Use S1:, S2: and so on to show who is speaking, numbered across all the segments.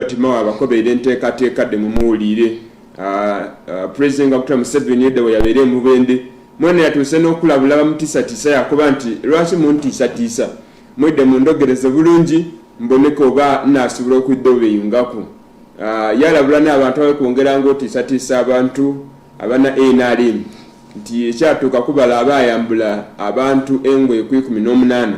S1: Timao abakobeera enteekateeka de mumuwuliire pulezidenti nga kutula Museveni edda bwe yabeera e Mubende mwene yatuuse n'okulabula bamutiisatiisa yakuba nti lwaki muntiisatiisa mwedde mundogereze bulungi mboneka oba naasobola okudda obeyungako yalabula n'abantu abakwongeranga otiisatiisa abantu abana nrm nti ekyatuuka kubala aba ayambula abantu engo ekwikumi n'omunaana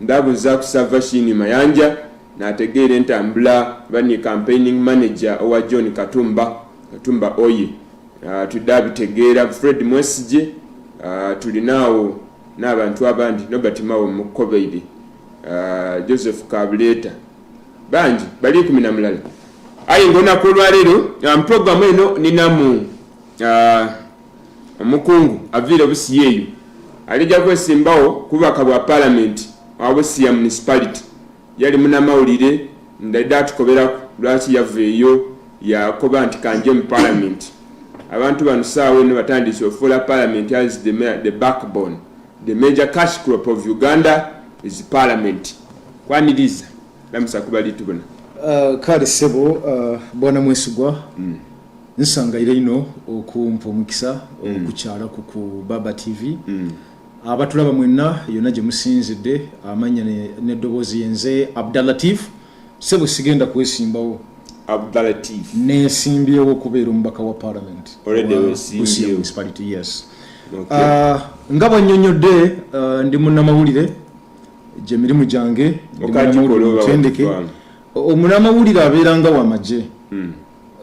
S1: Ndabuza ku Savashini Mayanja nategeera entambula bani campaigning manager owa John Katumba Katumba oye uh, tudde abitegeera Fred Mwesigye uh, tulinaawo n'abantu abandi Nobert Mao Mukobeidi uh, Joseph Kabuleta bangi bali kumi na mulala ayi ngonaku olwaleero um, programu eno ninamu uh, Omukungu aviire Busia eyo alijja kwesimbawo ku bubaka bwa Palamenti wa Busia Municipality yali munamawulire ndadde atukoberaku lwaki yaveeyo yakoba nti kanje mu Palamenti abantu bano saawa eno batandiise ofuula Palamenti as the, the backbone the major cash crop of Uganda is Palamenti kwaniriza lamusa kubalitubona uh, kale
S2: sebo uh, bwana mwesigwa mm. nsanga ira ino okumpa omukisa mm. okukyala ku ku baba tv mm. abatulaba mwenna yonna gye musinzidde amanya n'eddoboozi yenze abdalatif sebo sigenda kwesimbawo abdalatif
S1: nesimbyewo
S2: okubeera omubaka wa parliament
S1: yes ah,
S2: nga bwanyonyodde ah, ndi munamawulire gye mirimu gyange ndi munamawulire mutendeke omunamawulire abeera nga wamagye hmm.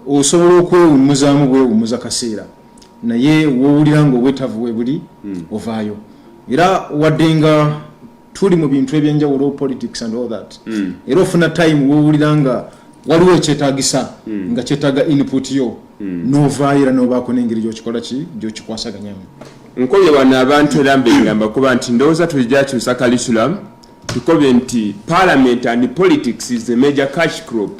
S2: osobola okwewummuzaamu bwewummuza kaseera naye wowulira nga obwetavu webuli hmm. ovaayo era wadde nga tuli mu bintu ebyenjawulo politics and all that hmm. era ofuna time wowulira nga waliwo ekyetagisa hmm. nga kyetaga input yo novaayo era nobaako nengeri gyokikola ki gyokikwasaganyamu nkobye bano
S1: abantu era mbengamba kuba nti ndowooza tujakyusa kalisulam tukobye nti parliament and politics is a major cash crop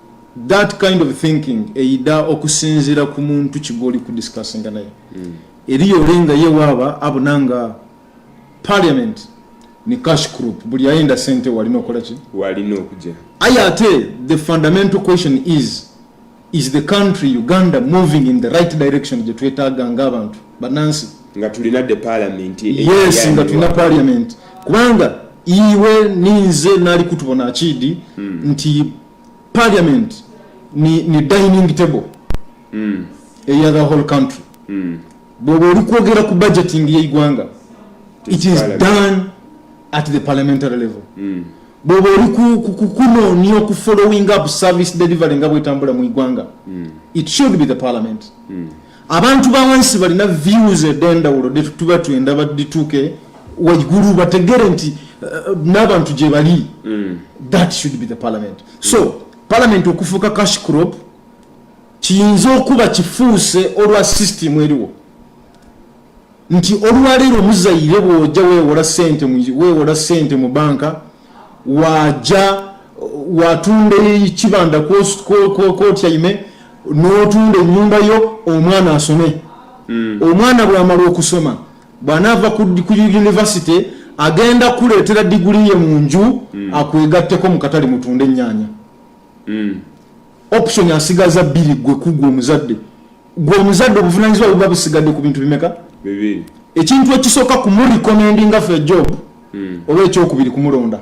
S2: That kind of thinking eyida okusinzira ku muntu kigoli ku discussing naye mm. eriyo olenga ye waba abunanga parliament ni cash group buli ayenda sente walina okola ki walina okuja
S1: aya ate
S2: the fundamental question is is the country uganda moving in the right direction je twetaga nga abantu banansi nga tulina the
S1: parliament yes nga tulina
S2: parliament kubanga iwe ninze nali kutubona akidi mm. nti parliament ni, ni dining table mm. eya the whole country mm. bwoba oli kwogera ku budgeting yeigwanga it is done at the parliamentary level mm. bwoba oli kukunoonya oku following up service delivery nga bwetambula mu igwanga mm. it should be the parliament mm. abantu bawansi balina views edendawulo detutuba tuyenda badituke waigulu bategere nti eh, nabantu gyebali mm. that should be the parliament so parliament okufuuka cash crop kiyinza okuba kifuuse olwa system eriwo nti olwaleero muzayire bwoja wewola sente wewola sente mu banka waja watunda ekibanda kotyaime notunda enyumba yo omwana asome mm. omwana bwamala okusoma bwanaava ku univesity agenda kuleetera diguli ye mu nju mm. akwegatteko mukatale mutunda enyanya mm. option asigaza bbiri gwe kugwa omuzadde gwe omuzadde obuvunanyizibwa buba busigadde ku bintu bimeka
S1: ekintu ekisooka
S2: kumulikomendinga fe job hmm. oba ekyokubiri kumulonda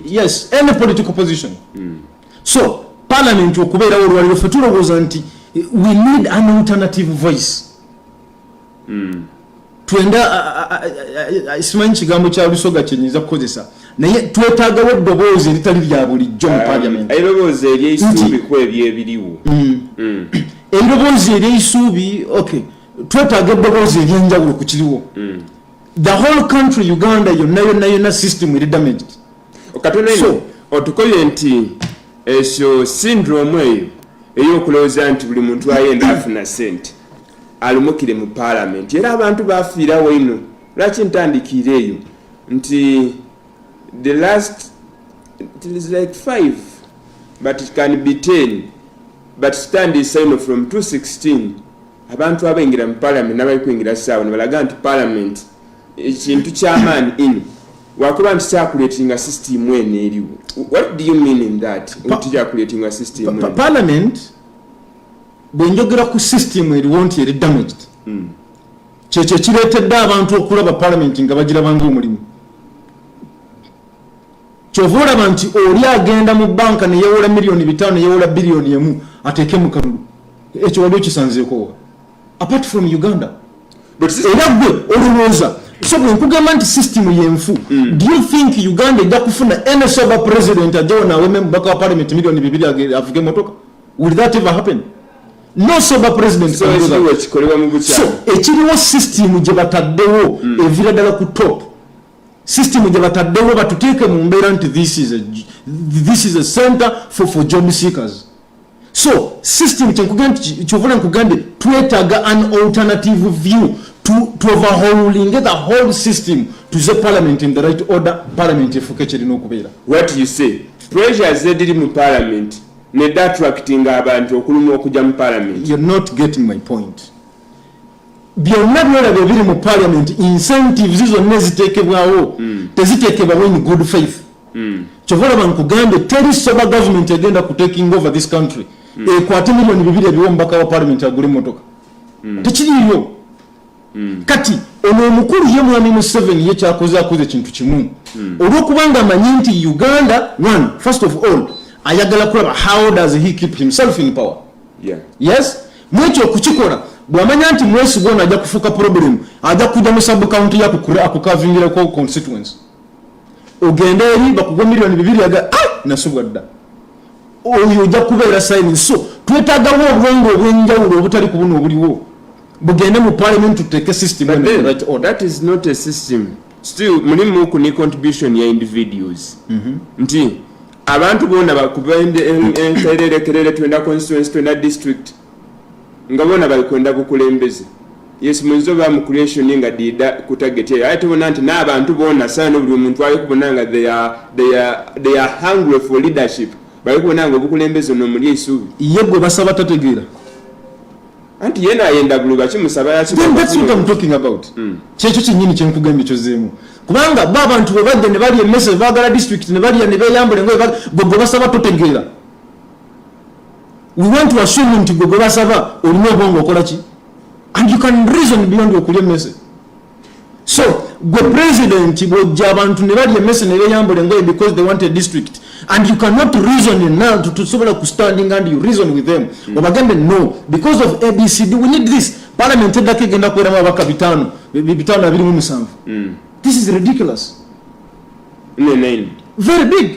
S1: yes any political
S2: position hmm. so parliament okubeerawo olwaliro fe tulowooza nti we need an alternative voice mm. twenda simanyi kigambo kya lusoga kyenyinza kukozesa naye twetagawo eddoboozi eritali lya bulijjo mu um, parliament ebiroboozi eryeisuubi
S1: ku ebyo ebiriwo mm. mm.
S2: ebiroboozi eryeisuubi ok twetaaga eddoboozi eryenjawulo ku kiriwo mm. the whole country uganda yonna yonna yonna system eri damaged katonaino
S1: otukoye nti ekyo syndrome eyo ey'okulowooza nti buli muntu ayenda afuna sente alumukire mu palamenti era abantu bafiira waino lwaki ntandikiira eyo nti the last it is like five but it can be ten but stand is sign from 216 abantu abaingira mu palamenti nabali kuingira saawa nibalaga nti palamenti ekintu kyamaani in wakuba nti kyakuletinga system eno eriwo what do you mean in that nti kyakuletinga system parliament
S2: bwenjogera ku system eriwo nti eri damaged hmm. kyekyo ekireetedde abantu okulaba palamenti nga bagirabanga omulimu kyova olaba nti oli agenda mu banka neyewola miliyoni bitaano neyewola biliyoni emu ateeke mu kalulu ekyo wali okisanzeekowa apart from uganda era gwe olowooza so bwenkugamba nti system yenfu hmm. do you think uganda ejja kufuna any sober president ajawo nawememubaka wa palamenti miliyoni bibiri avuge motoka Will that ever happen? No sober president so can do that. Ekikolewa
S1: mu bukya. So
S2: ekiriwo system gye bataddewo mm. evira dala ku top. System gye bataddewo batuteeke mu mbeera nti this is a this is a center for for job seekers. So system kye nkugamba kyovula nkugambye twetaaga an alternative view to to overhauling the whole system to the parliament in the right order parliament efuke kirina okubeera. What you say?
S1: Pressure zediri mu parliament Nedda attractinga abantu okulumwa okuja mu parliament. You're not getting my
S2: point. Byonna byolaba ebiri mu parliament incentives zonna eziteekebwawo mm. teziteekebwawo in good faith. Mm. Kyova olaba nkugambye teri sober government egenda ku taking over this country mm. ekwate milioni bibiri ebiwa omubaka wa parliament agule motoka. Mm. Tekiriyo. Hmm. kati ono omukulu ye mwami museveni ye kyakoze akoze ekintu kimu hmm. olwokubanga amanyi nti uganda one first of all ayagala kulaba how does he keep himself in power yeah. yes mwekyo okukikola bwamanya nti mwesiga ono ajja kufuuka problem ajja kujja mu subcounty yakukavingirako constituency ogenda eri bakugwa miliyoni bibiri aga ah, nasubwa dda oyo ojja kubeera sayini so twetagawo obwongo obwenjawulo obutali ku buno obuliwo bugende mu parliament tuteeke system that is not a system
S1: still mulimu ku ne contribution ya individuals mm -hmm. nti abantu bona bakuba entererekerere twena constituency twena district nga bona bali kwenda bukulembeze yes mwenzi oba mu creation nga dida ku target eyo aye tubona nti n'abantu bona sana no buli muntu ali kubona nga they are they are they are hungry for leadership bali kubona nga obukulembeze no muli esubi ye gwe basaba
S2: tategeera
S1: anti yena ayenda bulu baki musaba yaki then that's what i'm talking
S2: about mm. kyekyo kinyini kyenkugambye kyozeemu kubanga ba abantu bwe badde ne bali emese bagala district ne bali ne beyambule ngoye gwe gwe basaba totegeera we want to assume nti gwe gwebasaba olina obwongo okola ki and you can reason beyond okulya emmese so gwe president bwojja abantu ne balya emmese ne beyambula engoye because they want a district and you cannot reason enow tusobola ku standing and you reason with them mm. obagambe no because of abcd we need this parliament eddako egenda kuweramu abaka bitaano bitaano abirimu musanvu mm. this is ridiculous very big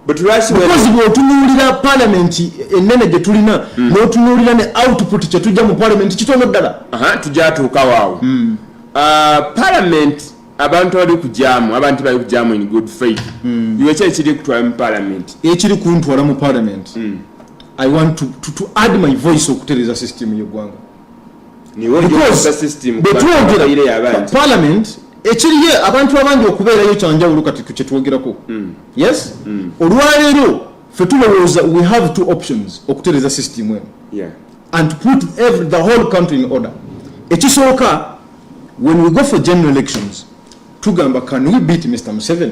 S2: because
S1: bwotunuulira
S2: palamenti enene gyetulina hmm. notunuulira ne output kyetujja mu palamenti kitono ddala tujatuukawaawo
S1: hmm. ah, palamenti abantu abali kujamu abantu bali kujamu in good faith hmm. iwe kyali kiri kutwala mu palamenti ekiri kuntwala mu
S2: palamenti i want to, to, to add my voice okutereza system yegwanga parliament ekiriye abantu abangi okubeerayo kyanjawulo kati kukyetwogerako mm. yes mm. olwaleero fe tulowooza we have two options okutereza system eno and put every, the whole country in order ekisooka when we go for general elections tugamba can we beat mr museven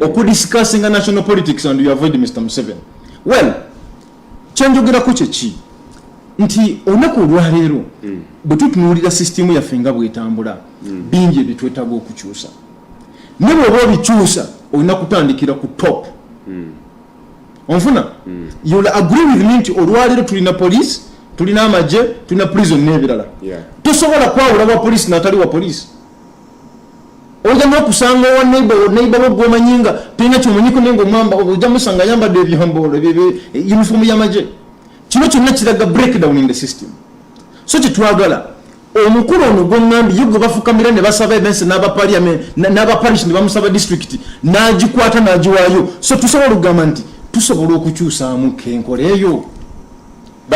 S2: okudiscussinga national politics and you avoid mr museven well kyenjogerako kyeki nti olunaku olwaleero mm. bwe tutunuulira sisitimu yaffe nga bwetambula mm. bingi ebitwetaaga okukyusa ne bweoba obikyusa olina kutandikira ku top mm. onfuna you'll agree with me nti olwaleero tulina police tulina amagye tulina prison n'ebirala tosobola kwawula wa police natali wa police oja nokusanga owa neiba neiba wo gwomanyi nga tolina kyomanyiko naye ngaomwamba oja musanga ayambadde ebyambolo uniform yamaje kino kyonna kiraga breakdown in the system so kyetwagala omukulu ono gwongambi ye gwe bafukamira ne basaba ebensi n'abapaliament n'abaparish ne bamusaba disitulikiti n'agikwata n'agiwaayo so tusobola okugamba nti tusobola okukyusaamu kenkola eyo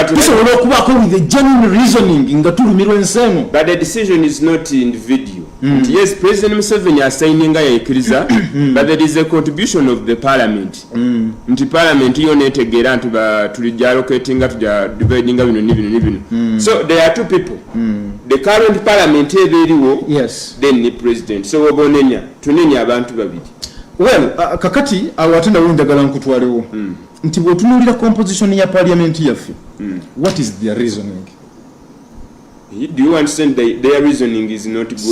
S2: tusobola okubaako with a genuine reasoning nga tulumirwa ensi eno but the decision is
S1: not in video mm. yes president museveni asaininga yaikiriza mm. but there is a contribution of the parliament mm. nti parliament yo netegeera nti tuli jalocatinga tuja dividinga bino ni bino ni bino mm. so there are two people mm. the current parliament eba eriwo yes. then ni
S2: president so
S1: oba onenya tunenya abantu babiri well uh,
S2: kakati awo ate nawe njagala nkutwalewo mm. nti bwotunuulira composition ya parliament yaffe mm.
S1: what is their reasoning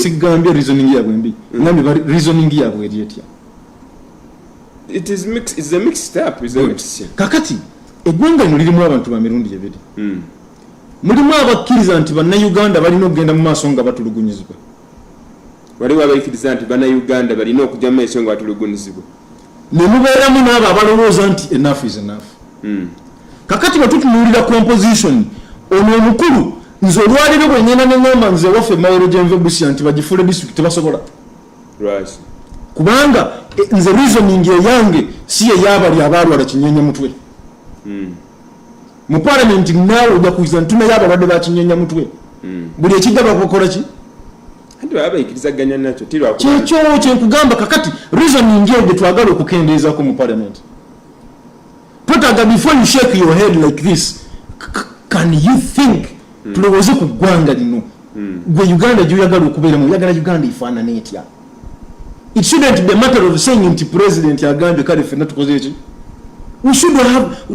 S1: sigambye reasoning yabwe
S2: mbi mm. nambe reasoning yabwe eri
S1: etya kakati
S2: eggwanga lino lirimu abantu ba mirundi ebiri mm. mulimu abakkiriza nti bannayuganda balina okugenda mu maaso nga batulugunyizibwa
S1: waliwo abaikiriza nti bannayuganda balina okujja mu maaso nga batulugunyizibwa ne
S2: mubeeramu n'abo abalowooza nti enough is enough hmm. kakati bwe tutunuulira composition ono omukulu nze olwaliro bwe ngenda ne ngamba nze waffe mawero gyenve busia nti bagifuule disitulikiti tebasobola kubanga e, nze reasoning eyange si eyabali abaalwala kinyenya mutwe hmm. mu palamenti naawe ojakuiza nti tunayo abalwadde bakinyenya mutwe hmm. buli ekijja bakokola ki kyekyo kyenkugamba kakati reasoning eyo gyetwagala okukendeezako mu parliament twetaaga before you shake your head like this can you think hmm. tulowooze ku ggwanga lino hmm. gwe uganda gyoyagala okubeeramu oyagala uganda efaanana etya it shouldn't be a matter of saying nti president agambye kale fenna tukoze eki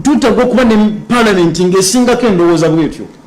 S2: twetaaga okuba ne parliament ngaesingako endowooza bwetyo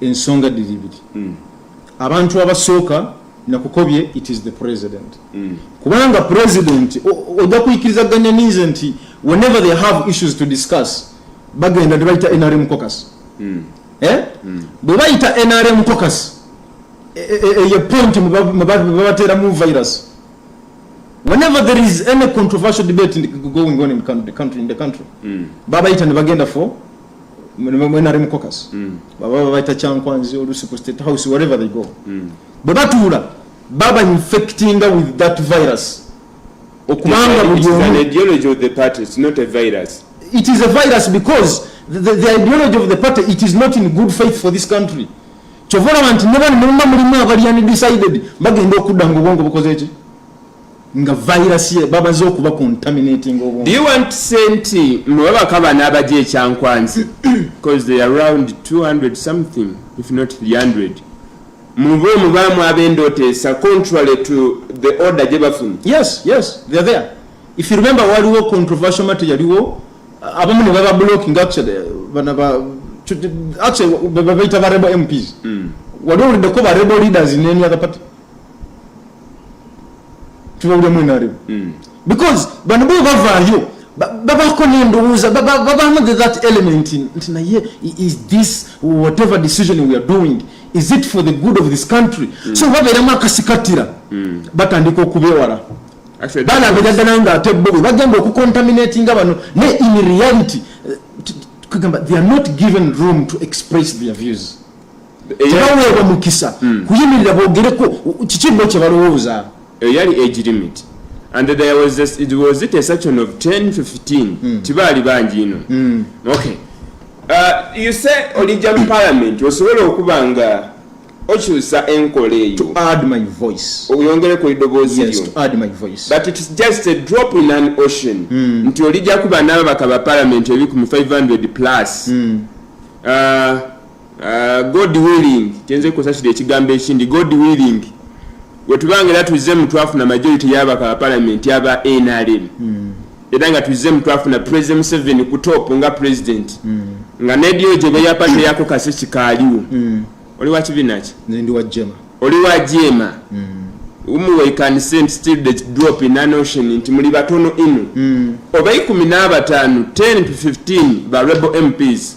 S2: ensonga diri ibiri mm. abantu abasooka nakukobye it is the president mm. kubanga president ojja kuyikiriza ganya ninze nti whenever they have issues to discuss bagenda nebayita nrm cocus mm. eh? mm. bwe bayita nrm cocus e, e, e, eyo point mwebateeramu virus whenever there is any controversial debate going on in the country, in the country mm. babayita nebagenda for mwenali mukokas mm. baba babaita kyankwanzi olusi ku state house wherever they go mm. bwe batuula baba infectinga with that virus
S1: okubanga buli omu ideology of the party it's not a virus it is a virus
S2: because the, the, the ideology of the party it is not in good faith for this country kyova olaba nti ne bano muluma mulimu abali undecided bagenda okudda nga obwongo bukoze ki nga virus ye babaze okuba contaminating obwongo. Do you want to say nti
S1: mwe bakaba n'abaje ekyankwanzi because they are around 200 something if not 300 mubo mubamu ab'endoteesa contrary to the order gye bafuna. Yes, yes, they are
S2: there. If you remember waliwo controversial matter yaliwo abamu ne baba blocking actually bana ba actually babaita ba rebel MPs. Mm. Waliwo lideko ba rebel leaders in any other party. tubawulemu enaremu hmm. because bano bo bavaayo babako nendowooza babamu the that element nti naye is this whatever decision we are doing is it for the good of this country mm. so babeeramu akasikatira mm. batandika okubewala balabira ddala nga ate bo bwe bagenda okucontaminatinga bano naye in reality eh, kugamba they are not given room to express their views tebaweebwa mukisa hmm. kuyimirira
S1: bogereko
S2: kiki bo kye
S1: balowooza
S2: eyo yali age
S1: limit
S2: and
S1: there was this, it was it a section of 10 15 hmm. tibaali bangi ino hmm. okay uh, you say olijja mu parliament osobola okuba nga okyusa enkola eyo
S2: oyongere ku eddoboozi
S1: lyo
S2: but its just a
S1: drop in an ocean mm. nti olijja kuba n'ababaka ba parliament ebikumi 500 plus mm. uh, Uh, god willing kyenze kusasira ekigambo ekindi god willing wetubanga era tuzze mu twafuna majority yabaka bapalamenti aba nrm hmm. era nga tuzze mu twafuna president museveni ku top nga president hmm. nga nedio gye beyapate yako kasi kikaaliwo hmm. oli wakibinaki
S2: oli wa
S1: jema nti muli batono ino oba ikumi n'abataano 10 to 15 ba rebel mps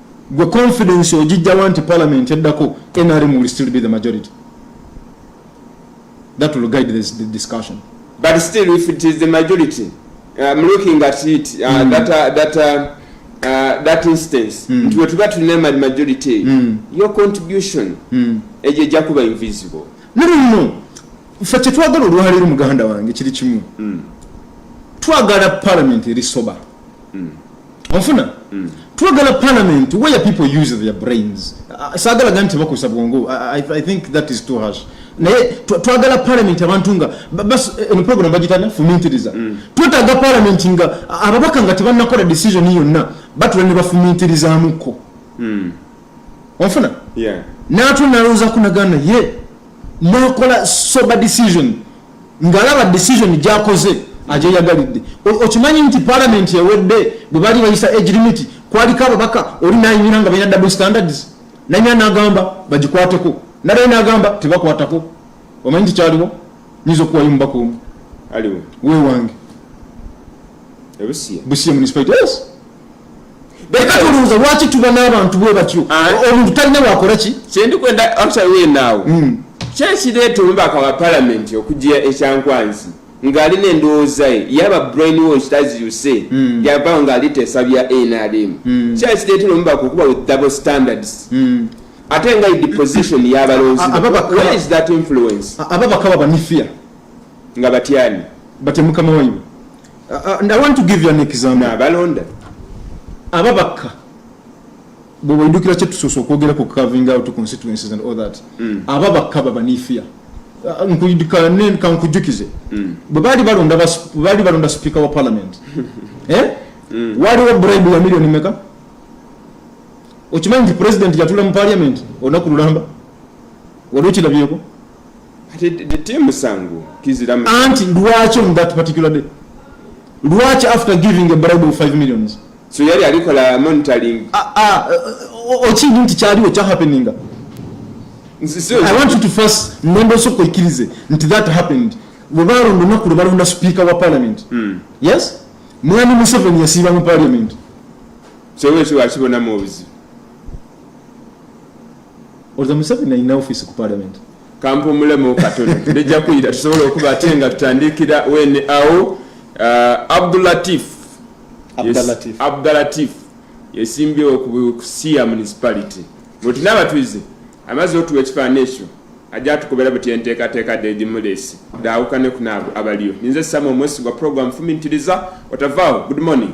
S2: Gwe confidence ojijjawa nti parliament eddako NRM will still be the majority. That will guide this the discussion. But still if
S1: it is the majority, I'm looking at it, uh, mm. that, uh, that, uh, uh, that instance, mm. nti wetuba tulina majority, mm. your contribution mm. ejo ejja kuba invisible. No, no, no.
S2: Ffe kyetwagala olwaleero muganda wange kiri kimu. Mm. Twagala parliament eri sober. mm. ofuna mm. twagala parliament where people use their brains uh, sagala gani tebakozesa bwongo I, i think that is too harsh naye twagala parliament abantu nga bas eh, eno program bagitana fumintiriza mm. twetaga parliament nga ababaka nga tebanakola decision yonna batula ne bafumintirizamuko mm. ofuna yeah. natunalowoozaku nagana ye nakola sober decision ngalaba decision gyakoze agyeyagalidde okimanyi nti palamenti ewedde bwebali bayisa age limit kwaliko ababaka oli nayimira nga balina double standards nayimira nagamba bagikwateko nalaye nagamba tebakwatako omanyi nti kyaliwo nyinza okuwayo omubaka omu
S1: wewange
S2: busia municipality yes Beka tulunza lwaki tuba n'abantu bwe batyo ah. omuntu talina wakola ki kyendi kwenda actually
S1: we now hmm. kyekireeta omubaka wa palamenti okujja ekyankwanzi ng'ali n'endowooza ye yaba brain wash as you say hmm. yavawo ng'ali teesa bya nrm hmm. kyekireetera omubaka okuba with double standards ate nga deposition yabalonzi where is that influence ababaka babanifia
S2: nga
S1: batyani batya mukama wanyu
S2: abalonda ababakka bwebaidukira kyetusoose okwogera ku carving out constituencies and all that mm. aba bakka babaniifia uh, kankujukize mm. bwebaali balonda sipiika wa parliament eh? mm. waliwo bribe ya millioni meka okimanyi nti president yatula mu parliament olunaku lulamba wali okilabyeko
S1: anti lwaki on
S2: that particular day lwaki after giving a bribe of 5 millions so yali alikola
S1: monitoring ah, ah,
S2: okindi nti kyaliwo kyahappeninga i want you to first nemba osooka oikirize nti that happened webalonda olunaku lwe balonda speaker wa parliament hmm. yes mwami museveni yasiiba mu parliament
S1: sewekiwakibonamu obuzibu
S2: Oza Museveni alina office ku parliament. Kampumulemu
S1: katono ndejja kuyita tusobola okuba ate nga tutandikira wene awo. Uh, Abdulatif Abdulatif yesimbyewo ku Siya municipality bweti n'abatuize amaze otuwa ekifaananyi ekyo ajja atukubera bweti enteekateeka Dedi Mulesi daawukane ku naabo abaliyo ninze Samuel Mwesigwa program fumiitiriza otavaawo good morning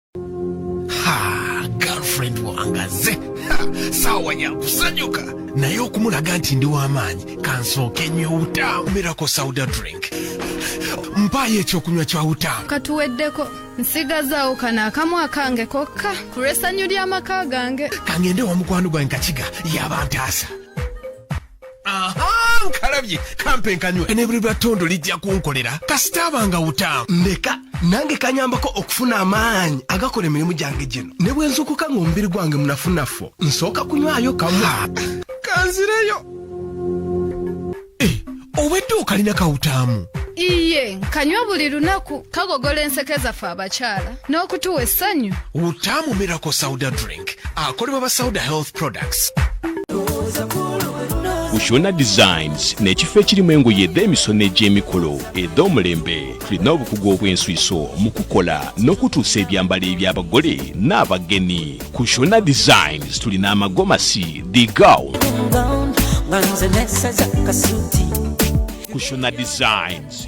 S3: girlfriend wangaze saawa yakusanyuka naye okumulaga nti ndi w'amaanyi kansooke nyo obutaamu mirako sauda drink mpaayo ekyokunywa kya utaamu katuweddeko
S4: nsigazaawo kano akamu akange kokka ku lw'essanyu ly'amaka gange kangende wa mukwano
S3: gwange kakiga yaba ntaasa aha nkalabye kampe nkanywe nebuli lwa tondo lijja kunkolera kasita abanga wutaamu ndeka nange kanyambako okufuna amaanyi agakola emirimu gyange gino ne bwe nzukuka ng'omubiri gwange munafunafu nsooka kunywayo kamu kanzireyo eh, obwedde okalina kawutaamu iye nkanywa
S4: buli lunaku kagogola enseke zaffe abakyala n'okutuwa essanyu utaamu miracle
S3: sauda drink akolebwa ba sauda health products
S5: kushona designs n'ekifo ekirimu engoye ed'emisono egy'emikolo ed'omulembe tulina obukugu obw'enswiso mu kukola n'okutuusa ebyambalo eby'abagole n'abagenyi kushona designs tulina amagomasi the gown kushona designs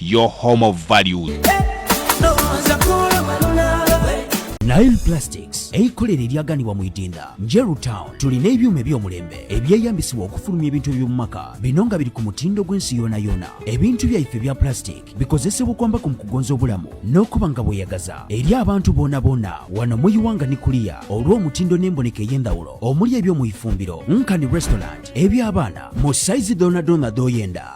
S5: your home of values
S6: Nile Plastics eikolero eryaganibwa mu Idinda Njeru Town tulina ebyuma ebyomulembe ebyeyambisibwa okufulumya ebintu eby'omumaka bino nga biri ku mutindo gw'ensi yoona yoona. Ebintu byaife ebya plastic bikozesebwa okwambako mu kugonza obulamu n'okuba nga bweyagaza eri abantu boona boona wano mu Iwanga ni kuliya olw'omutindo n'emboneka ey'endawulo omuli ebyomu ifumbiro, nkani restaurant, eby'abaana mu saizi doona doona dhoyenda.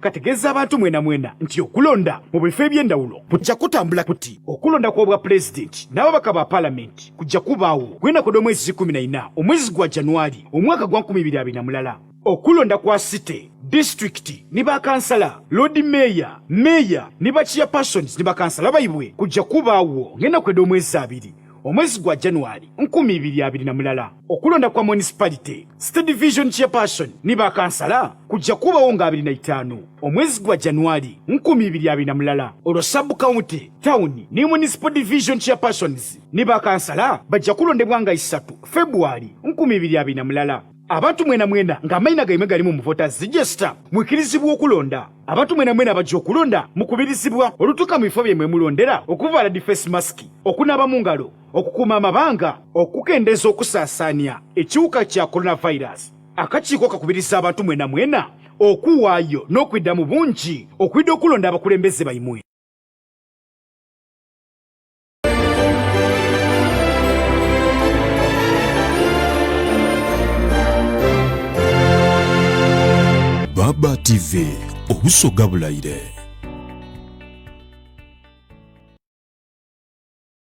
S7: kategeeza abantu mwena mwena nti okulonda mu bifo eby'endawulo kujja kutambula kuti okulonda kw'obwa pulezidenti n'ababaka ba palamenti kujja kubaawo kwenakoda omwezi kumi na ina omwezi gwa januari omwaka gwa nkumi ibiri abiri na mulala okulonda kwa site disitulikiti ne bakansala loodi meeya meeya ne bakiya persons ne bakansala baibwe kujja kubaawo ng'enaku eda omwezi abiri omwezi gwa januari nkumi ibiri abiri na mulala okulonda kwa municipality state division chairperson ni bakansala kujja kubawo nga 25 omwezi gwa januari 2020 mulala olwo sub county town ne municipal division chairpersons ni bakansala bajja kulondebwa nga 3 february 2020 mulala abantu mwena mwena nga amayina gaimwe gali mu muvota zijesta mwikirizibwa okulonda abantu mwena mwena bajja okulonda mukubirizibwa olutuka mu bifo byemwe mulondera okuvala difesi masiki okunaba mu ngalo okukuuma amabanga okukendeeza okusaasaanya ekiwuka kya coronavirus akakiiko kakubiriza abantu mwena mwena okuwaayo n'okwidda mu bungi okwidda okulonda abakulembeze baimwe
S5: baba tv obusoga bulayire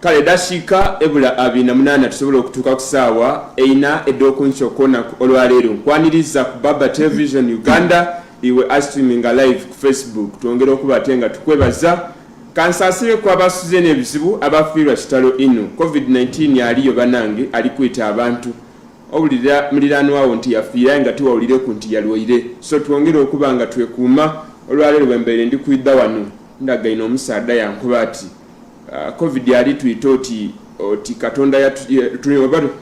S1: kale dashiika ebula abiri na munaana tusobola okutuuka ku saawa eina ed'okunkya okwonaku olwaleero nkwaniriza ku baba television uganda iwe astreaminga live ku facebook twongere okuba ate nga tukwebaza kansasire ku abasuze n'ebizibu abafiirwa kitalo inu covid-19 aliyo banange ali kuyita abantu owulira muliranwawo nti yafiiraye nga tiwawulire ku nti yalwaire so twongere okuba nga twekuuma olwaleero bwembeere ndi kuidha wano ndagaina omusaadha yankuba ati ah, covid ali tuyita oti oti katonda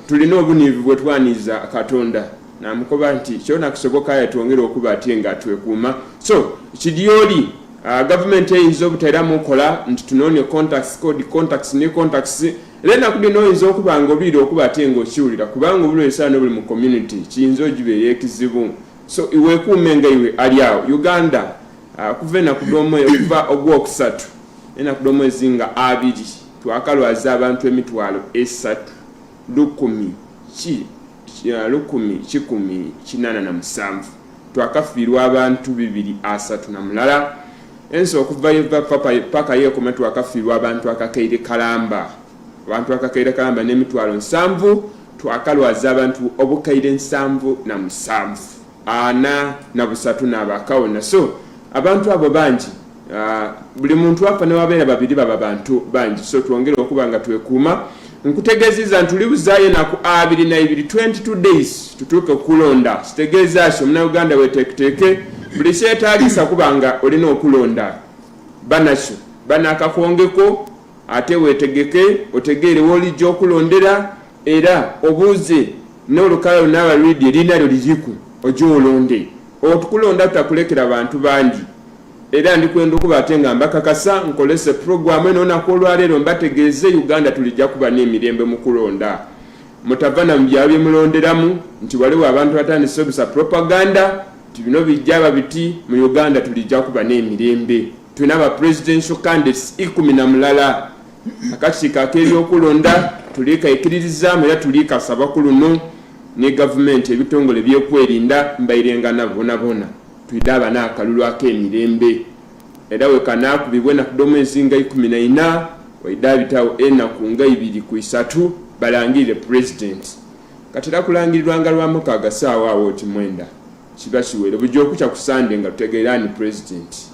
S1: tulina obuniivu bwe twaniiza katonda namukoba nti kyona kisoboka aye twongere okuba ate nga twekuuma so kidyoli ah, gavumenti eyinza obutaera mukola nti tunoone contacts code contacts ne contacts era enaku dino oyinza okuba nga obiire okuba ate nga okiwulira kubanga obulwesaano buli mu community kiyinza ogibeera ekizibu so iwekuume nga iwe ali awo uganda uh, okuva enaku domwe okuva ogwokusatu enaku domwezi nga abiri twakalwaza abantu emitwalo esatu lukumi ki uh, lukumi kikumi kinana na musanvu twakafiirwa abantu bibiri asatu na mulala ensi okuva yeva paka yekoma twakafiirwa abantu akakaire kalamba Abantu akakaire kalamba n'emitwalo nsanvu twakalwaza abantu obukaire nsanvu na musanvu ana na busatu n'abaakawo naso abantu abo bangi ah, buli muntu afa newabeera babiri baba bantu bangi so twongere okuba nga twekuuma nkutegeziza nti ulibuzayo naku abiri naibiri 22 days tutuuke okulonda kitegeeza ki omunauganda weteeketeeke buli kyetaagisa kuba nga olina okulonda banakyo banakakwongeko Ate weetegeke otegeere w'olijja okulondera era obuuze n'olukalala lunaaba luli lye liina lyo liriku oje olonde. Otukulonda tutakulekera bantu bangi era ndi kwenda okuba ate nga mbakakasa nkolese pulogulaamu eno olunaku olwaleero mbategeeze Uganda tulijja kuba n'emirembe mu kulonda. Mutava na mu byalo bye mulonderamu nti waliwo abantu batandise obisa propaganda nti bino bijja aba biti mu Uganda tulijja kuba n'emirembe. tulina aba presidential candidates ikumi na mulala akakiiko ak'ebyokulonda tuliikaikiririzaamu era tuliikasaba ku luno ne gavumenti ebitongole byokwerinda mbairengana bonabona twide abana akalulu ak'emirembe era wekanaakubibwa enaku d'omwezi nga ikumi na ina waide abitawo enaku nga ibiri ku isatu balangirire pulezidenti katera kulangirirwanga lwamukaaga saawa awo kimwenda kiba kiwere bujja okukya ku sande nga tutegeera ani pulezidenti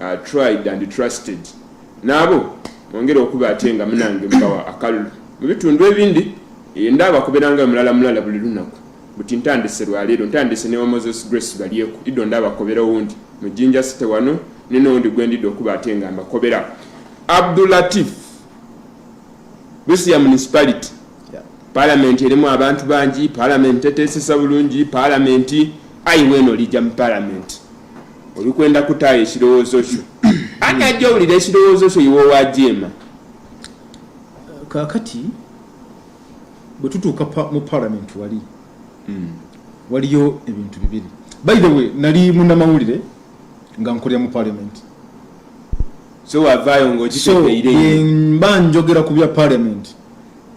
S1: uh, tried and trusted naabo mwongere okuba ate nga munange mubawa akalulu mu bitundu ebindi eh, ndaaba kuberanga mulala mulala buli lunaku buti ntandise lwaleero ntandise ne wamoses grace balyeku ido ndaaba kobera owundi mu jinja site wano nenowundi gwendidde okuba ate nga mbakobera abdulatif busia municipality palamenti erimu abantu bangi palamenti eteesesa bulungi palamenti ayiweeno lija mu palamenti olikwenda kutaayo ekirowoozo kyo ani ajja owulira ekirowoozo kyo iwe wajeema
S2: kakati bwe tutuuka mu palamenti wali hmm. waliyo ebintu bibiri by the way nali munamawulire nga nkolera mu palamenti
S1: so wavaayo ngaokiteereire mba njogera
S2: ku bya palamenti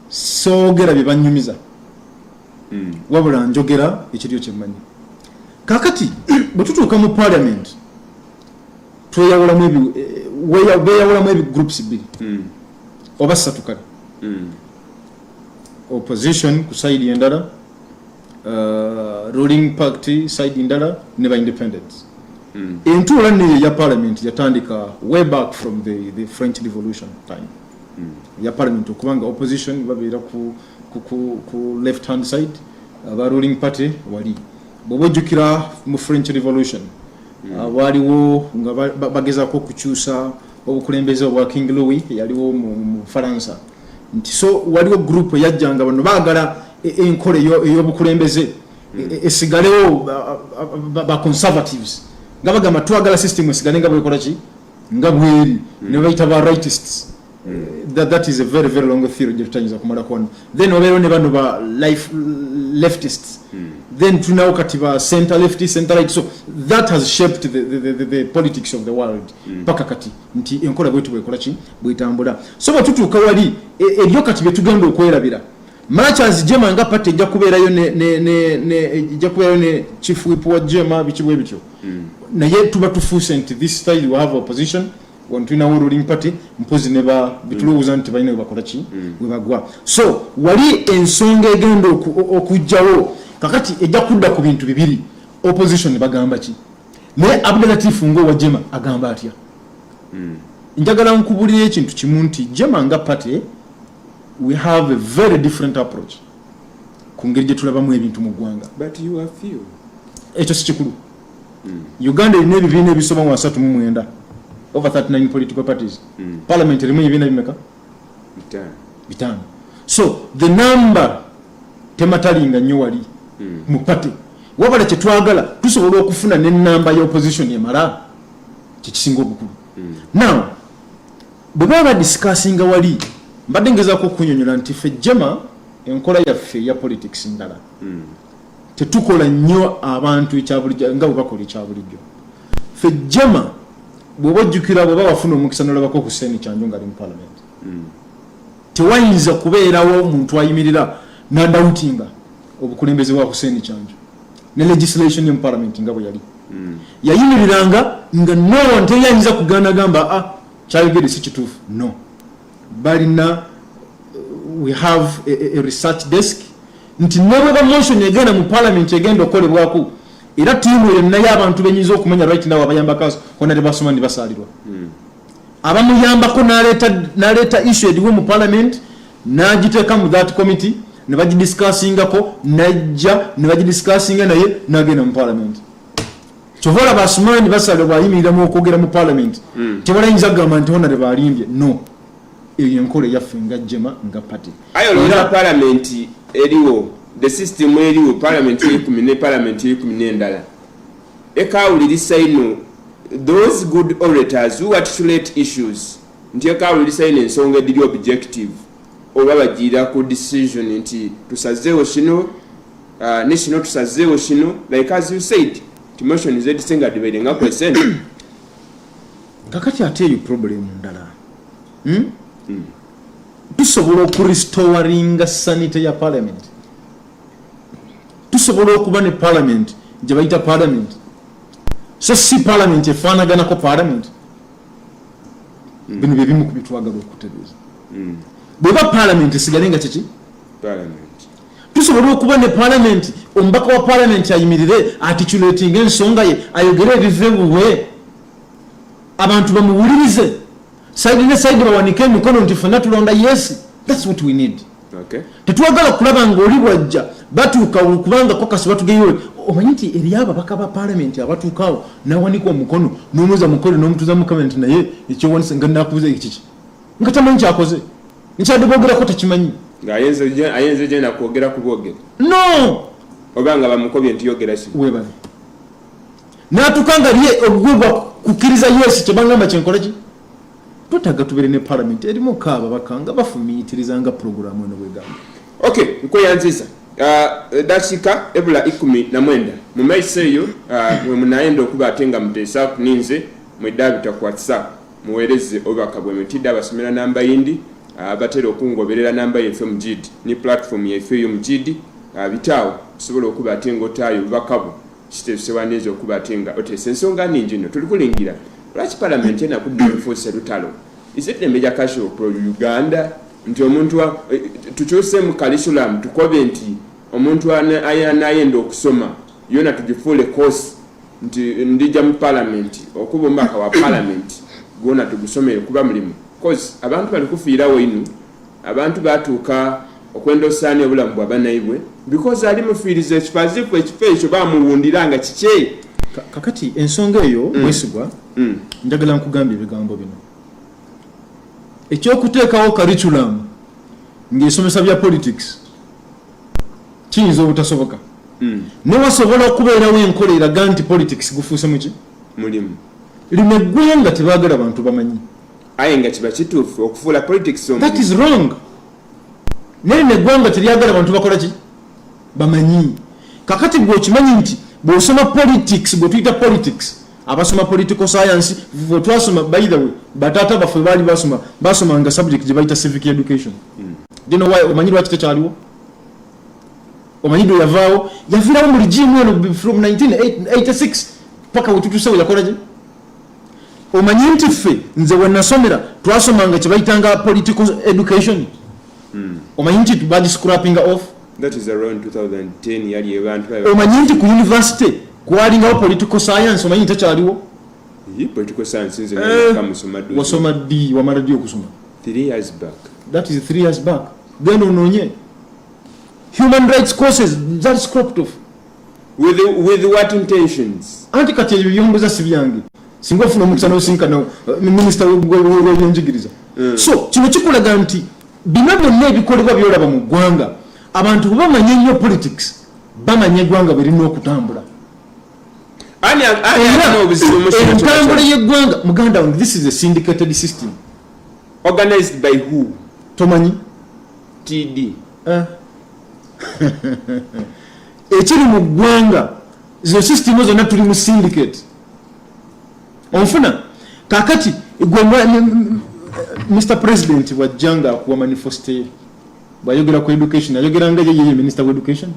S2: soogera bye banyumiza mm. wabula njogera ekiriyo kyemmanyi kakati bwe tutuuka mu parliament tweyawulamu eh, beyawulamu ebigroups bbiri mm. oba ssatu kale mm. opposition ku side endala uh, ruling party side endala ne ba independence mm. entuula neyo ya parliament yatandika way back from the, the french revolution time mm. ya parliament okubanga opposition babeera ku ku left hand side aba ruling party wali bwoba ojjukira mu french revolution hmm. ah, waaliwo nga bagezako okukyusa obukulembeze obwa king louis yaliwo mu faransa nti so waliwo group eyajjanga bano baagala e, e, enkola ey'obukulembeze hmm. e, esigalewo baconservatives nga bagamba twagala system esigale nga bwekola ki nga bweri hmm. nebayita ba rightists that, that is a very very long theory gyetutayinza kumala kwona then obeerewo ne bano ba life leftists mm. then tunawo kati ba center lefti center right so that has shaped the, the, the, the, the politics of the world hmm. paka mm. kati nti enkola bwetu bwekola ki bwetambula so bwetutuuka wali e, ebyo kati byetugenda okwerabira machas jema nga pate ejja kubeerayo ejja kubeerayo ne chief wip wa jema biki bwe bityo mm. naye tuba tufuuse nti this style we have opposition wano tulinawo ruling party mpozi ne ba bitulowooza nti balina webakola ki mm. webagwa so wali ensonga egenda okujjawo kakati ejja kudda ku bintu bibiri opposition bagamba ki naye abdalatifu ngaowa jema agamba atya mm. njagala nkubulira ekintu kimu nti jema nga party we have a very different approach ku ngeri gyetulabamu ebintu mu ggwanga
S1: ekyo si kikulu
S2: mm. uganda erina ebibiina ebisoba mu basatu mu mwenda over 39 political parties mm. parliament erimu ebibiina bimeka bitano so the number tematalinga nnyo wali mm. mu party wabala kyetwagala tusobola okufuna nenamba ya opposition emala kyekisinga obukulu mm. now bwebaba badiscussinga wali mbadde ngezako okunyonyola nti fe jema enkola yaffe ya politics ndala mm. tetukola nnyo abantu ekyabulijjo nga bwe bakola ekyabulijjo fe jama bwoba ojjukira bwoba wafuna omukisa nolabako hussein kyanjo ngaali mu parliament hmm. tewayinza kubeerawo omuntu ayimirira nandawutinga obukulembeze bwa hussein kyanjo ne legislation emu parliament nga bwe yali hmm. yayimiriranga nga nonteyayinza kugana gamba a ah, kyayogere si kituufu no balina uh, we have a, a research desk nti nebweba motion egenda mu parliament egenda okukolebwaku era tiimu eyo naye abantu benyinza okumanya right now abayambako kona tebasoma ni basalirwa hmm. abamuyambako naleeta issue ediwo mu parliament nagiteeka mu that committee nebagidiscussingako najja nebagidiscussinga naye nagenda mu parliament kyova olaba asumaani basale bwayimirira mu okwogera mu palamenti hmm. tebalayinza kugamba nti honare balimbye no eyo enkola eyaffe nga jema nga pati ayo olowooza palamenti
S1: eriwo the system eriwo palamenti eyekumi ne palamenti eyekumi n'endala ekawulirisa ino those good orators who articulate issues nti ekawulirisa ino ensonga ediri objective oba bagiira ku decision nti tusazeewo kino uh, ne kino tusazeewo kino like as you said timotion zedisenga dibaire nga kwesen kakati
S2: ate eyo problemu ndala hmm? hmm. tusobola okuristowaringa sanity ya parliament tusobola okuba ne parliament gye bayita parliament so si parliament efaanaganako parliament hmm. bino byebimu ku byetwagala okutereeza bweba parliament esigale nga kiki
S1: tusobola
S2: okuba ne palamenti omubaka wa palamenti ayimirire atituletinga ensonga ye ayogere ebive buwe abantu bamuwulirize saidi ne saidi bawanike emikono nti fena tulonda yesi thats what we need tetwagala
S1: kulaba
S2: nga oli bwajja batuuka kubanga kokasi batugeyo omanyi nti eri ababaka ba palamenti abatuukawo nawanika omukono nomuza mukole nomutuza mukama nti naye ekyowanisa nga nakubuza ekiki nga tamanyi kyakoze nkyadde bogerako tekimanyi ayenze
S1: genda kwogera kubwogere no
S2: oba nga
S1: bamukobye nti yogera si webale
S2: natuka nga lye ogugwe gwa kukkiriza yesu kyebangamba kyenkola ki twetaga tubere ne palamenti erimu kaaba bakanga bafumiitiriza nga puroguramu eno bwegamba ok
S1: nkweyanziza uh, edakika ebula ikumi na mwenda mu maiso eyo uh, mwemunayenda okuba ate nga muteesa kuninze mwedabita ku whatsapp Muwereze obubaka bwe mutide abasomera namba yindi abatera okungoberera namba yeffe mujid ni platform yeffe yo mujid abitaawo osobola okuba ate nga otaayo obubaka bwo kitebise wandinza okuba ate nga otesa ensonga ningi no tuli kulingira lwaki palamenti enaku ddeefuuse lutalo is it emeja kasho pro uganda nti omuntu eh, tukyusemu kalisulamu tukobe nti omuntu anayenda okusoma yona tugifuule kosi nti ndija mu palamenti okuba omubaka wa palamenti gwona tugusomere kuba mulimu coz abantu bali kufiirawo inu abantu batuuka okwendosaani obulamu bwa banaibwe because ali mufiiriza ekifazifu ekifo ekyo bamuwundira nga kikye kakati
S2: ensonga eyo mm. mwesigwa mm. njagala nkugamba ebigambo bino ekyokuteekawo curriculum ng'esomesa bya politics kiyinza obutasoboka hmm. ne wasobola okubeerawo enkola eraga nti politics gufuuse muki mulimu
S1: lino
S2: eggwanga tebagala bantu bamanyi aye
S1: nga kiba kituufu okufuula politics that is wrong
S2: naye lino eggwanga teryagala bantu bakola ki bamanyi kakati gwe okimanyi nti bw'osoma politics bwe tuyita politics abasoma political science vwe twasoma by the way batata baffe baali basoma basoma nga subject gye bayita civic education mm. dino why omanyi lwaki tekyaliwo omanyi dwe yavaawo yaviirawo mu ligimu eno from 1986 paka wetutusewo yakola gye omanyi nti ffe nze wenasomera twasomanga kyebayitanga political education hmm. omanyi nti bagi scrapping off that is around 2010
S1: yali abantu omanyi nti ku
S2: university kwalingawo political science omanyi ntakyaliwo political
S1: science nze eh, kamusoma ddi wasoma ddi wamala ddi
S2: okusoma 3 years back
S1: that is 3 years
S2: back then ononye human rights courses that scrapped off with, with
S1: what intentions anti kati ebyo byombuza
S2: si byange singa ofuna omukisa nosinkana uh, minisita webyenjigiriza mm. so kino kikulaga nti bino byonna ebikolebwa byolaba mu ggwanga abantu bwebamanya ennyo politics bamanya eggwanga bwerina okutambula entambula yeggwanga muganda wange this is a syndicated system organized
S1: by who tomanyi
S2: td
S1: uh. Eh.
S2: ekiri mu ggwanga zino sisitimu zonna tuli mu syndicate onfuna kakati gwe mr president bwajja nga akuwa manifesto ye bwayogera ku education ayogera nga yeyeye minister of education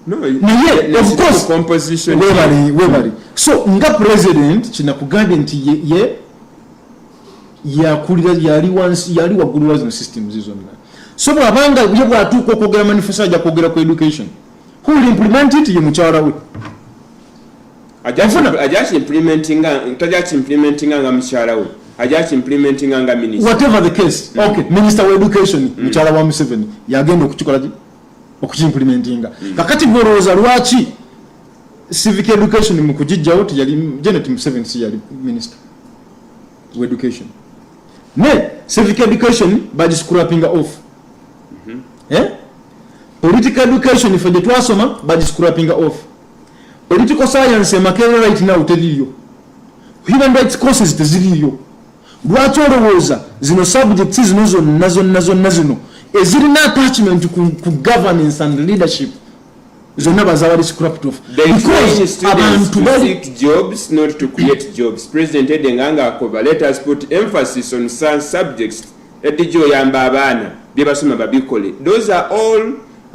S1: naye
S2: ofcourse
S1: webali
S2: so nga president kinakugambye nti ye yakulira yali wansi yali waggulu wazino systems zonna so bwabanga ye bwatuuka okwogera manifesto ajja kwogera ku education who will implement it ye mukyala
S1: we whatever the case mm. okay
S2: minister wa education mm. mukyala wa museveni yagenda okukikola okukimplementinga mm. kakati gwerowooza lwaki civic education mu kugijjawo teyali janet museveni si yali minister to education ne civic education by scrapping off mm -hmm. eh? political education ife gye twasoma by scrapping off political science emakere right now teriyo human rights courses teziriyo lwaki olowooza zino subjects zino zonna zonna zonna zino ezirina attachment ku, ku governance and leadership zonna bazaba discrapt of because
S1: abantu bali jobs not to create jobs president ede nga nga akoba let us put emphasis on some subjects edijjo oyamba abaana bye basoma babikole those are all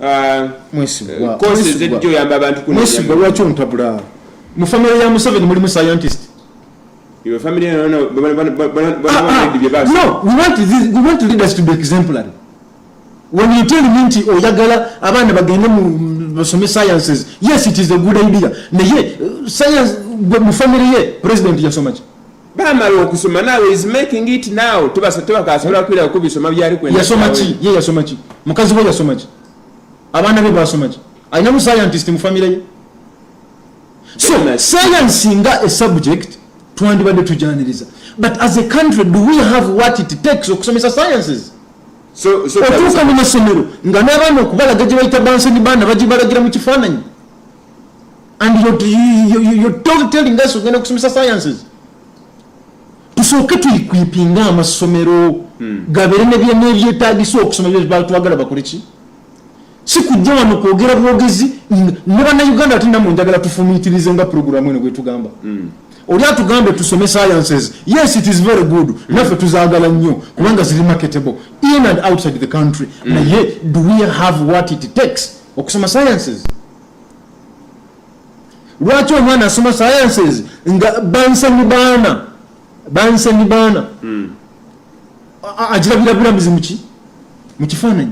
S1: uh, uh, courses edijjo oyamba abantu kuno mwesigwa lwaki ontabula
S2: mu family ya museveni mulimu scientist your
S1: family no no no we want
S2: this, we want leaders to be exemplary When you tell me nti oyagala abaana bagende mu basome sciences, yes it is a good idea. Naye uh, science gwe mu family ye president yasoma ki? Bamala okusoma
S1: nawe is making it now. Tubasa tubakasobola kwira ku bisoma byali kwenda. Yasoma ki? Ye yasoma
S2: ki? Mukazi we yasoma ki? Abaana be basoma ki? Alina mu scientist mu family ye. So science nga a subject twandibadde tujaniriza. But as a country do we have what it takes okusomesa sciences?
S1: otuuka mu masomero
S2: nga n'abaana okubalaga gye bayita banseni baana bagibalagira mu kifaananyi and yotelling us ogenda okusomesa sciences tusooke tuyikwipinga amasomero hmm. gabeere nebyetaagisa okusoma bye batwagala bakoleki sikujja wano kwogera bwogezi ne bannayuganda ate namwe njagala tufumitirize nga puroguramu eno gwetugamba mm. oli atugambe tusome sciences yes it is very good mm. naffe tuzagala nnyo kubanga ziri marketable in and outside the country mm. naye do we have what it takes okusoma sciences lwaki omwana asoma sciences nga bansani baana bansani baana mm. ajirabira bulamuzi muki mu kifaananyi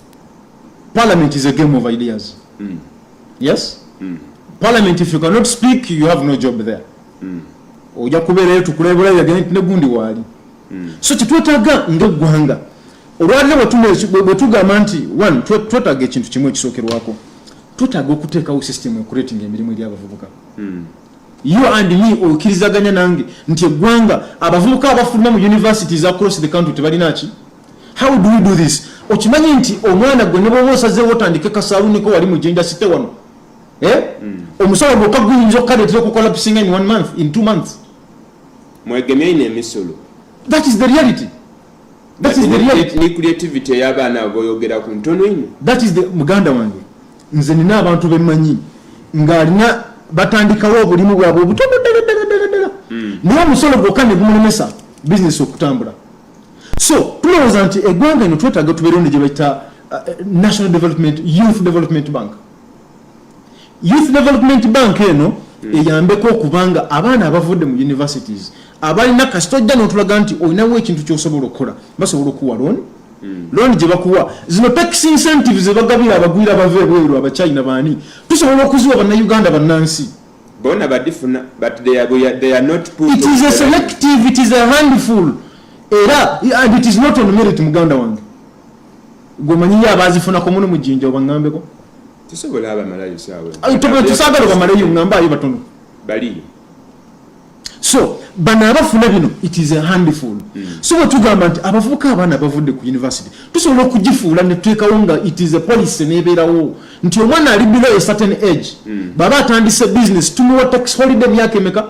S2: Parliament is a game of ideas. Mm. Yes? Mm. Parliament, if you cannot speak, you have no job there. Mm. Oja kubereyo tukulebula yagene ne gundi wali. Mm. So kitwetaga ngegwanga. Olwalira watume bwetugamba nti one twetaga ekintu kimwe kisokerwako. Twetaga okuteekawo system ekuleti ng'emirimu eri abavubuka. Mm. You and me okirizaganya nange nti eggwanga abavubuka abafuluma mu universities across the country tebalina ki? How do we do this? Okimanyi nti omwana gwe ne bwoba osazeewo otandike kasaaluniko wali mu jenda site wano eh? Mm. omusolo gwokka guyinza okukaleetera okukola pisinga in one month in two months mwegemye
S1: ine emisolo that is the
S2: reality that is the reality ni creativity ya
S1: bana boyogera ku ntono ino that is the muganda
S2: wange nze nina abantu bemanyi nga alina batandikawo obulimu bwabwe obutono ddala ddala ddala ddala hmm. naye omusolo gwokka ne gumulemesa bizinesi okutambula so tulowooza nti eggwanga eno twetaaga tubeerewo ne gye bayita uh, national development youth development bank Youth Development Bank eno hmm. eyambeko okuba nga abaana abavudde mu universities abalina kasita ojja n'otulaga nti olinawo ekintu ky'osobola okukola basobola okuwa looni hmm. looni gye bakuwa zino tax incentives ze bagabira abagwira bava ebweru abachina baani tusobola okuziwa bannayuganda bannansi bona badifuna
S1: but they are, they are not put it is a selective
S2: it is a handful era and it is not on merit muganda wange gwomanyiyo abazifunako muno mujinja obangambeko tusobola
S1: abamalayo sawetusagala obamalayo
S2: ngambayo batono baliyo so bano abafuna bino it is a handful mm. so bwetugamba nti abavubuka abaana bavudde ku university tusobola okugifuula netuteekawo nga it is a policy nebeerawo nti omwana ali below a certain age mm. baba atandise business tumuwa tax holiday myaka emeka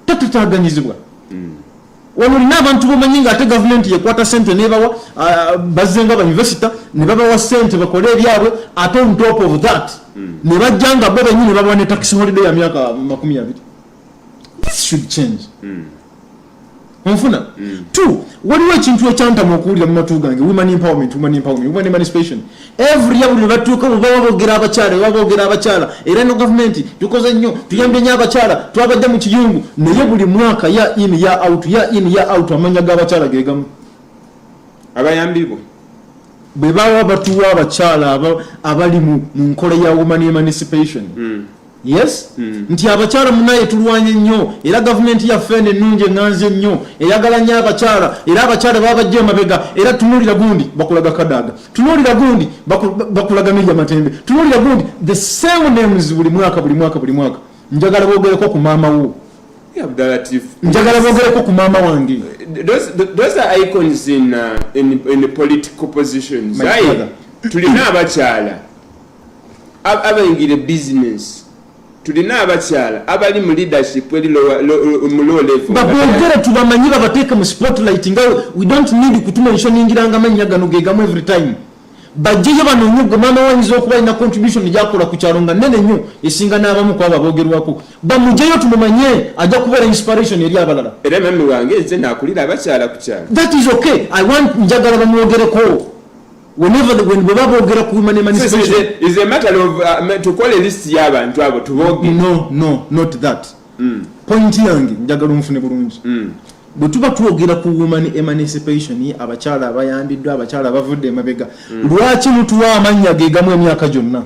S2: tatataaganyizibwa hmm. wano olina abantu bomanyi nga ate gavumenti yekwata sente nebawa bazze nga bayunivesita nebabawa sente bakole ebyabwe ate on top of that hmm. nebajja nga bo benyi nebabawa ne taxi holiday ya myaka makumi abiri this should change hmm. onfuna mm. t waliwo ekintu ekyantama okuwulira mu matu gange women empowerment women empowerment women emancipation every ya buli nebatuuka mu baba bogera abakyala baba bogera abakyala era no gavumenti tukoze nnyo tuyambye nnyo abakyala twabadde mu kiyungu naye buli mwaka ya in ya out ya in ya out amanya g'abakyala gegamu
S1: abayambibwa
S2: bwe baba batuwa abakyala abali mu nkola ya woman emancipation mm. yes mm. nti abakyala munaye tulwanye nnyo era gavumenti yaffe eno ennungi eŋŋanzi ennyo eyagala nnyo abakyala era abakyala baba bajja emabega era tunuulira gundi bakulaga kadaaga tunuulira gundi bakulaga mirya matembe tunuulira gundi the same names buli mwaka buli mwaka buli mwaka njagala bogereko ku maama wo njagala bogereko ku maama
S1: wange uh, tulina abakyala abaingira ebizinensi tulina abakyala abali mu leadership eri mu low level babogere tubamanyi
S2: babateeke mu spotlight nga we don't need kutumenshoningiranga amannya gano gegamu every time bajjeyo banoonye gwe maama wayinza okuba alina contribution gyakola ku kyalo nga nene nnyo esinga n'abamu ku abo abogerwako bamugyeyo tumumanye ajja kubeera inspiration eri abalala era mami wange nze
S1: nakulira abakyala ku kyalo that is okay i
S2: want njagala bamwogereko whenever when bwe baba boogera ku women emancipation is a matter of uh,
S1: to call a list y'abantu abo tubooge no no not
S2: that mm. point yange njagala omufune bulungi mm. bwe tuba twogera ku woman emancipation abakyala abayambiddwa abakyala abavudde emabega mm. lwaki mutuwa amannya gegamu emyaka gyonna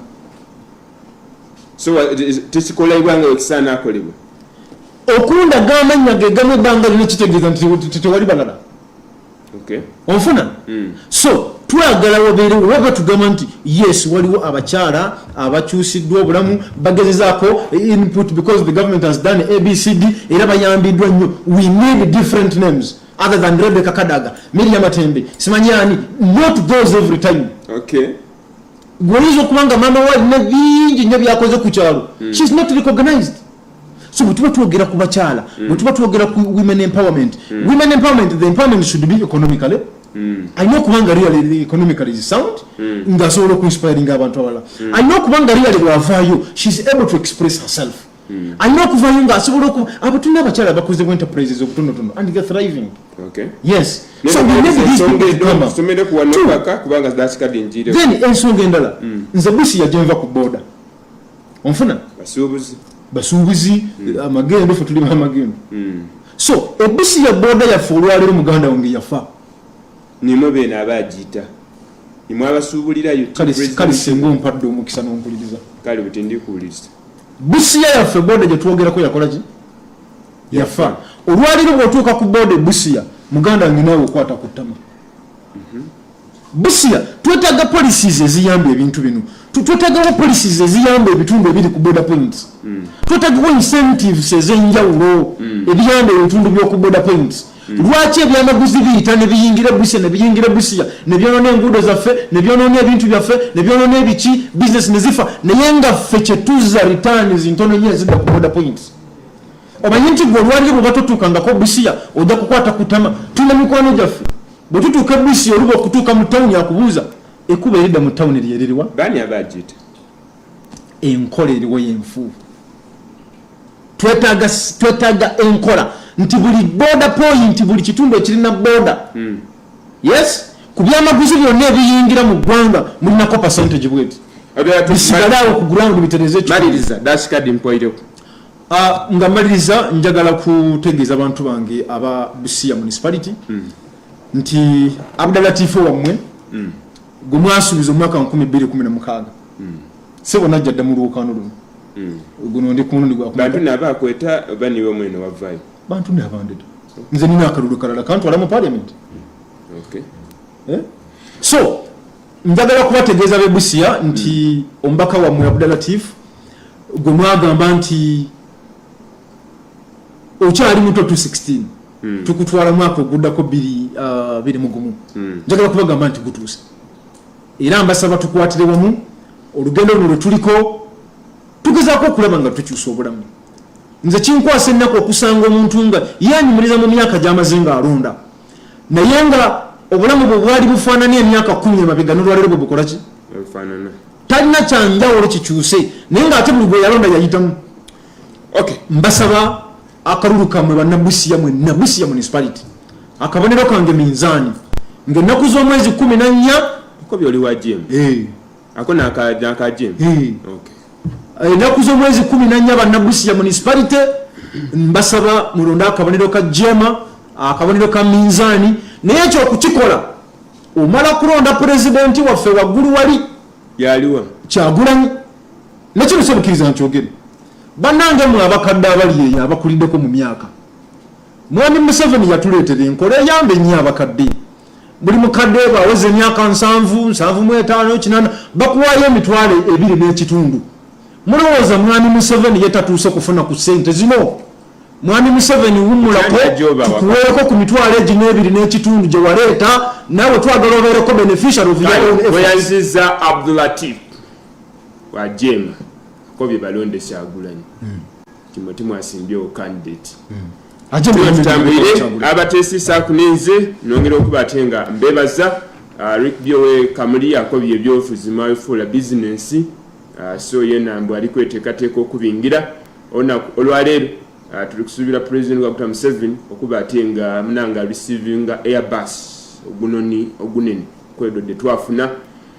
S1: so uh, tekikolebwa nga ekisaana akolebwa okundaga
S2: amannya gegamu ebbanga lino kitegeeza nti tewali balala
S1: onfuna hmm.
S2: so twagala wabeere oba batugamba nti yes waliwo abakyala abakyusiddwa obulamu bagezezaako input because the government has done abcd era bayambiddwa nnyo we need different names other than rebeka kadaga miria matembe simanyi ani not those every time okay
S1: gwoyinza
S2: okuba nga maama wa alina bingi nnyo byakoze ku kyalo hmm. she is not recognized so bwetuba twogera ku bakyala mm. bwetuba twogera ku women empowerment mm. women empowerment the empowerment should be economically mm. alina okuba nga real economically is sound nga asobola okuinspiring abantu abalala alina okuba nga real bwavaayo she is able to express herself alina okuvayo nga asobola oku abatuna abakyala bakoze bu enterprises obutonotono and they're thriving yes so
S1: we
S2: need these people to come
S1: up then ensonga endala
S2: nze busi yajenva ku boda onfuna basuubuzi basuubuzi hmm. amagendo fe tuli bamagendo hmm. so ebusi ya boda yaffe olwaleero muganda wange yafa nimwe
S1: beena aba agiyita imwe abasuubulira kale singa
S2: ompadde omukisa nompuliriza kale buti ndikuwuliriza
S1: busiya
S2: yaffe boda gyetwogerako yakolaki yafa olwaleero bwotuuka ku boda ebusiya muganda wange naawe okwata ku ttama mhm. Busia twetaga policies eziyamba ebintu bino twetagawo policies eziyamba ebitundu ebiri ku border points mm. twetagawo incentives ezenjawulo mm. ebiyamba ebitundu byoku border points mm. lwaki ebyamaguzi biyita nebiyingira busia nebiyingira busia nebyonona enguudo zaffe nebyonona ebintu byaffe nebyonona ebiki business nezifa naye nga ffe kyetuza returns ntono nyo ezidda ku border points omanyi nti gwe olwaliro bwebatotuukangako busia ojja kukwata kutama tulina mikwano gyaffe Bwe tutuuka e Bussi oluba okutuuka mu tawuni akubuuza ekkubo eridda mu tawuni lye liriwa? Baani abaagiyita? Enkola eriwo y'enfuufu. Twetaaga twetaaga enkola nti buli booda pooyinti buli kitundu ekirina booda hmm. yes ku byamaguzi byonna ebiyingira mu ggwanga mulinako percentage bweti bisigale awo ku ground bitereze ekyo. Maliriza, that's card
S1: mpoireko. Ah, nga
S2: maliriza njagala kutegeeza abantu bange aba busiya municipality mm. nti abdalatifu wammwe mm. gwe mwasuubiza omwaka 216 mm. sebo najja dda mu luwukaano luno mm. guno ndi kumundi gwabantu naba akweta
S1: baniwe mwene wavayo bantu nabandeda
S2: okay. nze nina akalulu kalala kantwala mu parliament okay. eh? so njagala kubategeeza bebusiya nti omubaka wammwe abdalatif gwe mwagamba nti okyali muto 216 hmm. tukutwala mwaka oguddako biri uh, biri mugumu hmm. njagala kubagamba nti gutuuse era mbasaba tukwatire wamu olugendo luno lwetuliko tugezaako okulaba nga tukyusa obulamu nze kinkwasa ennaku okusanga omuntu nga yanyumiriza mu myaka gyamaze nga alonda naye nga obulamu bwe bwali bufaanana emyaka kumi emabega nolwalero bwe bukola ki talina kyanjawulo kikyuse naye nga ate buli gwe yalonda yayitamu ok mbasaba akalulu kamwe banabusiya mwe nabusiya municipality akabonero kange minzaani ngaennaku z'omwezi kumi nannya eko byoliwa
S1: jim hey. Eh. ako nakajim ennaku z'omwezi kumi nanya bannabusia
S2: municipality mbasaba mulonde akabonero ka jema akabonero ka minzaani naye ekyo okukikola omala kulonda pulezidenti waffe waggulu wali yaliwa
S1: kyagulanyi
S2: nekino kyebukiriza nkyogere banange mwe abakadde abali eyo abakuliddeko mu myaka mwami museveni yatuleetera enkola eyamba ennyo abakadde buli mukadde bwaweza emyaka nsanvu nsanvu mu etaano kinana bakuwaayo emitwalo ebiri n'ekitundu mulowooza mwami museveni ye tatuuse kufuna ku sente zino mwami museveni wumulako tukuweeko ku mitwalo egi n'ebiri n'ekitundu gye waleeta nawe twagala obeereko beneficial ofweyanziza
S1: abdulatif wajema ko bye balondesa agulanyi hmm. Timothy Mwasimbye o candidate hmm. atambulire abatesisa kunenze nongera okuba ate nga mbebaza uh, Rick Byowe Kamuli akobye ebyofuzi mafuula business uh, so yena mbu ali kwetekateeka okubingira ona olwaleero uh, tuli kusuubira president Dr. Museveni okuba ate nga munanga receiving airbus ogunoni ogunene kwedodde twafuna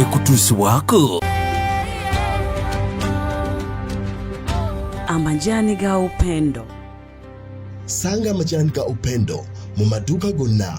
S6: ekutuusibwako
S8: amajani ga upendo
S9: sanga amajani ga upendo
S8: mu
S9: maduuka gonna